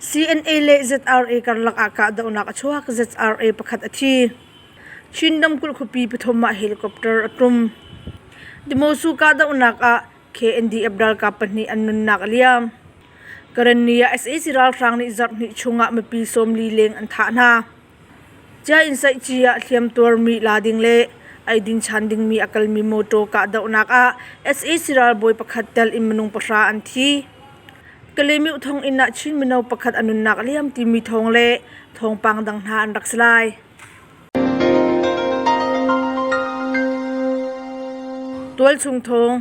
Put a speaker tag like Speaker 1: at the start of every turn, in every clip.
Speaker 1: CNA le ZRA karlak ah kahdohnak a chuak. ZRA pakhat a thi. Chinram kulh khuapi pathum ah helicopter a tum. Dimosu kahdohnak ah KNDF ralkap pahnih an nunnak a liam. Karenni ah sac ralhrang nih zarhhnih chung ah mipi sawmli leng an thah hna. Cia inn saihci ah hliamtuarmi la ding le eidin chan dingmi a kalmi mawṭaw kahdohnak ah sac ralbawi pakhat tel in minung pahra an thi. Kalemih thong inn ah Chin mino pakhat a nunnak a liam timi thawng le thawngpang dang hna an rak si lai. Tualchung thawng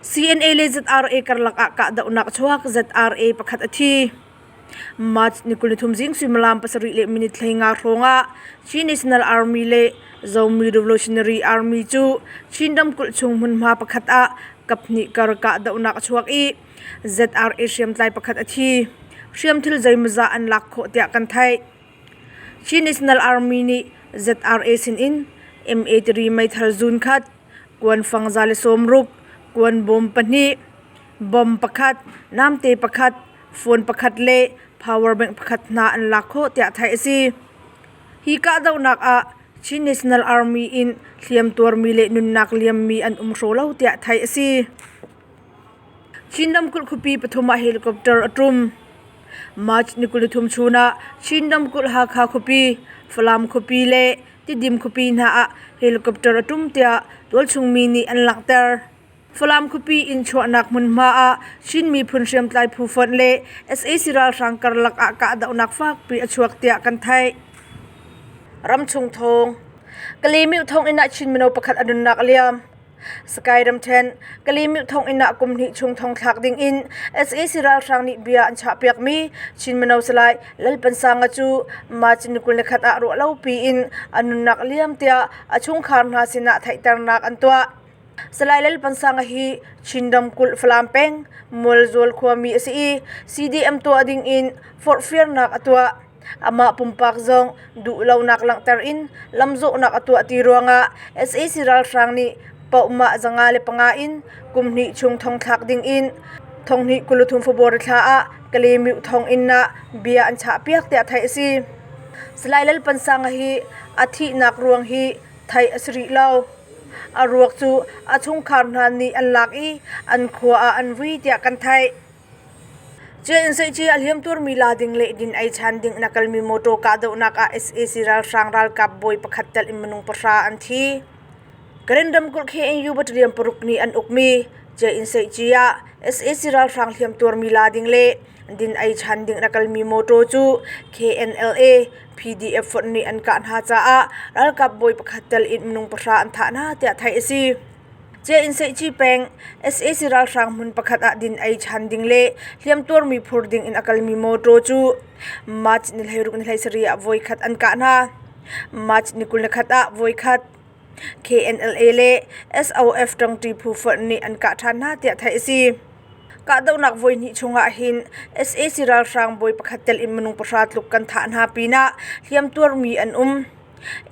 Speaker 1: CNA le ZRA karlak ah kahdohnak chuak ZRA pakhat a thi. March ni kul ni thum zing suimilam pasarih le minit hlei nga hrawngah Chin National Army le Zomi Revolutionary Army cu Chin ramkulh chung hmunhma pakhat ah kaphnih kar kahdohnak a chuak i ZRA hriamtlai pakhat a thi. Hriamthil zeimawzah an lak khawh tiah kan theih. Chin National Army nih ZRA sinin MA tiri meithal zuun khat, kuan fangza le sawmruk, kuan bawm pahnih, Bom pakhat, namte pakhat, phone pakhat le power bank pakhat hna an lak khawh tiah theih a si. Hi kahdohnak ah Chin National Army in hliamtuarmi le nunnak liammi an um hraw lo tiah theih a si. Chin ramkulh khuapi pathum ah helicopter a tum. March ni kul ni thum chun ah Chin ramkulh Hakha khuapi, Falam khuapi le Tidim khuapi hna ah helicopter a tum tiah tualchung mi nih an langhter. Falam khuapi in chuahnak hmunhma ah Chin miphun hriamtlai phu fonh le sac ralhrang karlak ah kahdohnak fakpi a chuak tiah kan theih. Ramchung thawng Kalemil thonginn ah Chin mino pakhat a nunnak a liam. Skyram ṭhen Kalemil thonginn ah kum hnih chung thong thlak ding in sac ralhrang nih bia an chahpiakmi Chin mino salai Lalpansanga cu March ni kul ni khat ah ruah lo pi in a nunnak a liam tiah a chungkhar hna sinah theihternak an tuah. Salai Lal Pansanga hi Chin ramkulh Falam peng Mualzual khuami a si i CDM tuah ding in forhfialnak a tuah. Amah pumpak zong duh lonak langhter in lamzawhnak a tuah ti ruangah sac ralhrang nih pohmah zanga le panga in kumhnih chung thong thlak ding in thonghnih kuluthum February thla ah Kalaymyo thong inn ah bia an chahpiak tiah theih a si. Salai Lal Pansanga hi a thihnak ruang hi theih a si rih lo. A ruak cu a chungkhar hna nih an lak i an khua ah an vui tiah kan theih. Ciainseihci a hliamtuarmi la ding le din ei ṭhan ding in a kalmi mawṭaw kahdohnak ah sac ralhrang ralkap bawi pakhat telh in minung pahra an thi. Karen ramkulh KNU battalion paruk nih an ukmi Ciainseihci ah sac ralhrang hliamtuarmi la ding le din ei ṭhan ding in a kalmi mawṭaw cu KNLA PDF fonh nih an kah hna caah ralkap bawi pakhat tel in minung pahra an thah hna tiah theih a si. Chiah Inn Seihci peng sac ralhrang hmun pakhat ah din ei ṭhan ding le hliamtuarmi phur ding in a kalmi mawṭaw cu March ni hleiruk ni hleisarih ah voikhat an kah hna. March ni kul ni khat ah voikhat KNLA le SOF ṭangṭi phu fonh nih an kah ṭhan hna tiah theih a si. Kahdohnak voihnih chungah hin sac ralhrang bawi pakhat tel in minung pahra tluk kan thah hna pinah hliamtuar mi an um.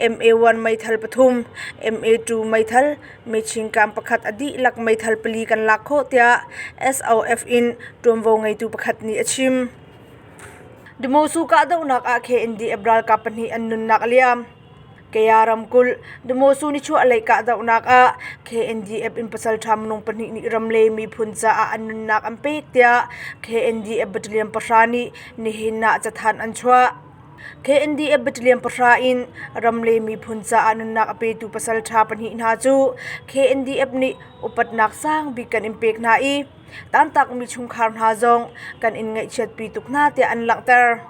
Speaker 1: MA1 meithal pathum, MA2 meithal, mechingkam pakhat a dihlak meithal pali kan lak khawh tiah SOF in ṭuanvo ngeitu pakhat nih a chim. Demosu kahdohnak ah KNDF ralkap pahnih an nunnak a liam. Kaya ramkulh Damosu nichuahlei kahdohnak ah KNDF in pasalṭha minung pahnih nih ram le miphun caah an nunnak an pek tiah KNDF battalion pahra nih nihin ah cathanh an chuah. KNDF battalion pahra in ram le miphun caah nunnak a petu pasalṭha pahnih hna cu KNDF nih upatnak sangbik kan in pek hna i tantakmi chungkhar hna zong kan in ngaihchiatpi tuk hna tiah an langhter.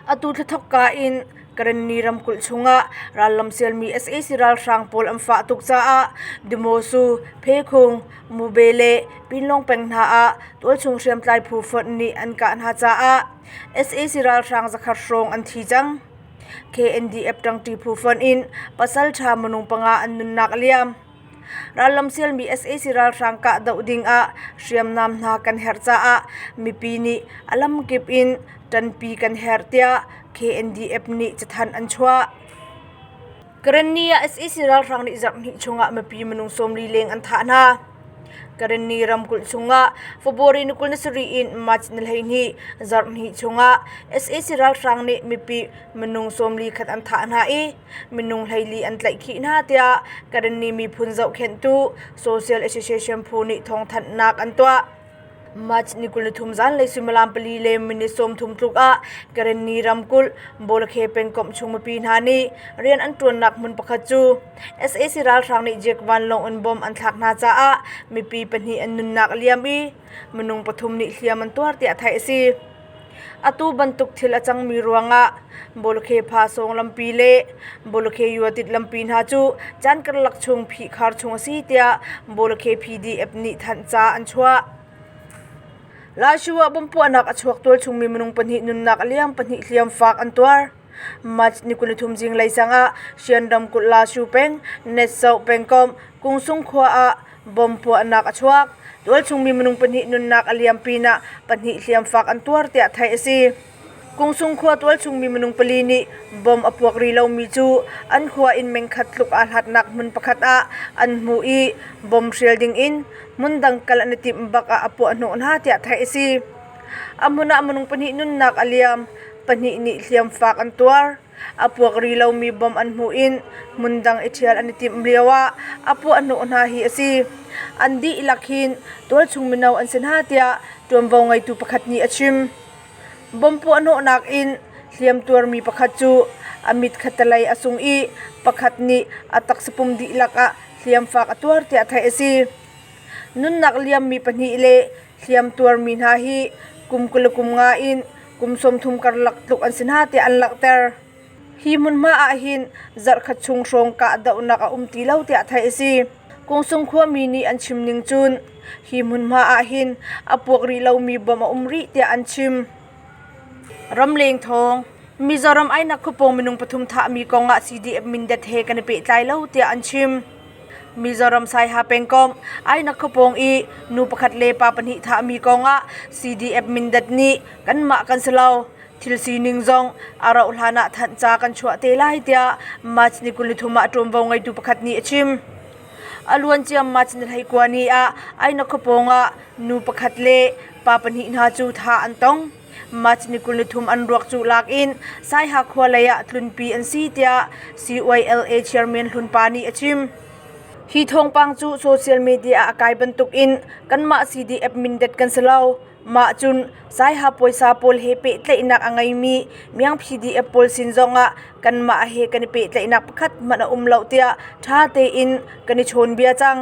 Speaker 1: Atu thla thawkka in Karenni ramkulh chungah rallam sialmi sac ralhrang pawl an fah tuk caah Dimosu, Pheikhung, Mube le Pinlawng peng hna ah tualchung hriamtlai phu fonh nih an kah hna caah sac ralhrang zakhat hrawng an thi cang. KNDF ṭangṭi phu fonh in pasalṭha minung panga an nunnak a liam. Rallam sialmi sac ralhrang kahdoh dingah hriamnam hna kan herh caah mipi nih a lamkip in ṭanpi kan herh tiah KNDF nih cathanh an chuah. Karenni ah sac ralhrang nih zarhhnih chungah mipi minung sawmli leng an thah hna. Karenni ramkulh chungah February ni kul ni sarih in March ni hleihnih zarhhnih chungah sac ralhrang nih mipi minung sawmli khat an thah hna i minung hleili an tlaih khih hna tiah Karenni miphun zohkhenhtu Social Association phu nih thawngthanhnak an tuah. March ni kul ni thum zanlei suimilam pali le minit sawmthum tluk ah Karenni ramkulh Bawlakhe pengkomh chung mipi hna nih rian an ṭuannak hmun pakhat cu sac ralhrang nih Jeek vanlawng in bom an thlak hna caah mipi pahnih an nunnak a liam i minung pathum nih hliam an tuar tiah theih a si. Atu bantuk thil a cangmi ruangah Bawlkheepha sawng lampi le Bawlkhe yuatit lampi hna cu can karlak chung phihkhar chung a si tiah Bawlkhe PDF nih thanh ca an chuah. Lai Shu ah bomb puahnak a chuak tualchungmi minung pahnih nunnak a liam pahnih hliamfaak an tuar. March ni kul ni thum zinglei sang ah Shan ramkulh Lashu peng Netso pengkomh Kungsung khua ah bomb puahnak a chuak. Tualchungmi minung pahnih nunnak a liam pinah pahnih hliamfaak an tuar tiah theih a si. Kungsung khua tualchungmi minung pali nih bomb a puak rih lomi cu an khua inn mengkhat tluk aa hlatnak hmun pakhat ah an hmu i bomb hrial ding in hmun dang kal an i timh bak ah a puahhnawh hna tiah theih a si. A hmun ah minung pahnih nunnak a liam. Pahnih nih hliamfaak an tuar. A puak ri lomi bom an hmuh in hmun dang i ṭhial an i timh lioah a puahhnawh hna hi a si. An dihlak hin tualchung mino an si hna tiah ṭuanvo ngeitu pakhat nih a chim. Bom puahhnawhnak in hliam tuarmi pakhat cu a mitkhattelei a sung i pakhat nih a taksapum dihlak ah hliamfaak a tuar tiah theih a si. Nunnak liammi pahnih le hliamtuarmi hna hi kum kul le kum nga in kum sawmthum karlak tluk an si hna tiah an langhter. Hi hmunhma ahhin zarhkhat chung hrawng kahdohnak a um ti lo tiah theih a si. Kungsung khuami nih an chim ning cun hi hmunhma ahhin a puak rih lomi bom a um rih tiah an chim. Ramleng thawng Mizoram ainak khupong minung pathum thahmi kong ah CDF Mindat he kan i pehtlai lo tiah an chim. Mizoram Saiha pengkomh Aina Khupawng i nu pakhat le pa pahnih thahmi kongah CDF Mindat nih kanmah kan si lo thil sining zong a rauh hlan ah thanh ca kan chuah te lai tiah March ni kul ni thum ah ṭuanvo ngeitu pakhat nih a chim. A luancia March ni hleikua ni ah Aina Khupawng ah nu pakhat le pa pahnih hna cu thah an tong. Mah cun kul ni thum an ruak cuh lak in Saiha khua lei ah tlunpi an si tiah CYLA chairman Hlun Pa nih a chim. Hi thawngpang cu social media ah a kai bantuk in kanmah CDF mindet kan si lo. Mah cun Saiha puaisa pawl he pehtlaihnak a ngeimi Myang PDF pawl sin zong ah kanmah he kan i pehtlaihnak pakhat hmanh a um lo tiah ṭha tein kan i chawnbia cang.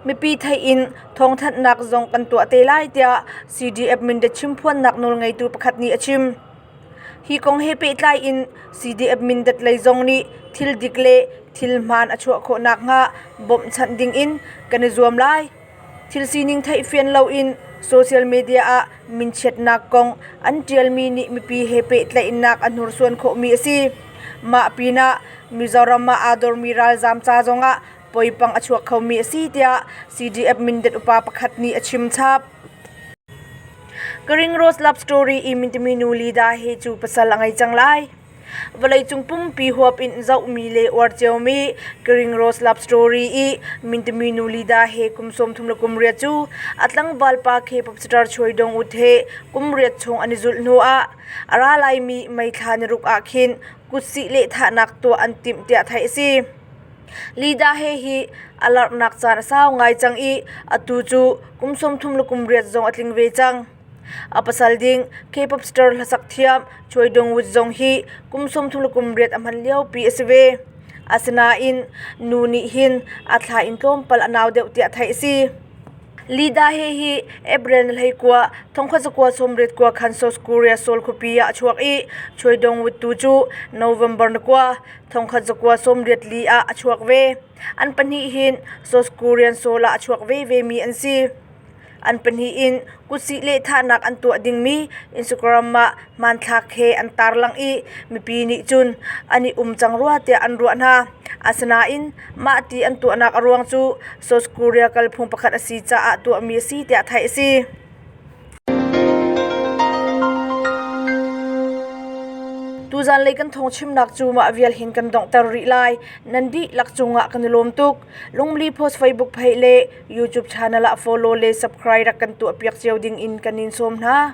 Speaker 1: Mipi theih in thawngthanhnak zong kan tuah te lai tiah CDF Mindat chimphuannak nawlngeitu pakhat nih a chim. Hi kong he pehtlai in CDF Mindat lei zong nih thil dik le thil hmaan a chuah khawh nakhnga bawmhchanh ding in kan i zuam lai. Thil sining theihfian loin social media ah minchiatnak kong an ṭialmi nih mipi he pehtlaihnak a hnursuan khawhmi a si. Mah pinah Mizoram ah aa dormi ralzaam ca zongah poipang a chuak khomi a si tiah CDF Mindat upa pakhat nih a chim chap. Karing Rose Love Story i Mintami nu Lida he cu pasal a ngei cang lai. Vawleicung pumpi huap in zohmi le uar ciomi Karing Rose Love Story i Mintami nu Lida he kum sawm thum le kum riat cu a tlangval pa khi popsitar chuai dong ut he kum riat chung an i zulh hnu ah a ra laimi meithla niruk ah khin kutsih lehthahnak tuah an timh tiah theih a si. Lida-he hi a larhnak caan a sau ngai cang i atu cu kum sawmthum le kum riat zong a tling ve cang. A pasal ding K-pop star hlasak thiam Choi Dong-wood zong hi kum sawmthum le kum riat a hman liopi a si ve. Asinain nu nih hin a thla in tlawmpal a nau deuh tiah theih a si. Lida he hi April hleikua thongkhat zakua sawmriat kua khan South Korea Seoul khuapi ah a chuak i Choidongwut tu cu November nakua thongkhat zakua sawmriat li ah a chuak ve. An pahnih hin South Korean Seoul ah a chuak vevemi an si. An pahnih in kutsih lehthahnak an tuah dingmi Instagram ah hmanthlak he an tarlangh i mipi nih cun an i um cang rua tiah an ruah hna. Asinain Mah ti an tuahnak a ruang cu South Korea kalphung pakhat a si caah tuahmi a si tiah theih a si. Tuzan lei kan thong chimnak cu mah vial hin kan donghter rih lai. Nan dihlak cungah kan i lawm tuk. Lungli post Facebook page le YouTube channel ah follow le subscribe rak kan tuah piak cio ding in kan in sawm hna.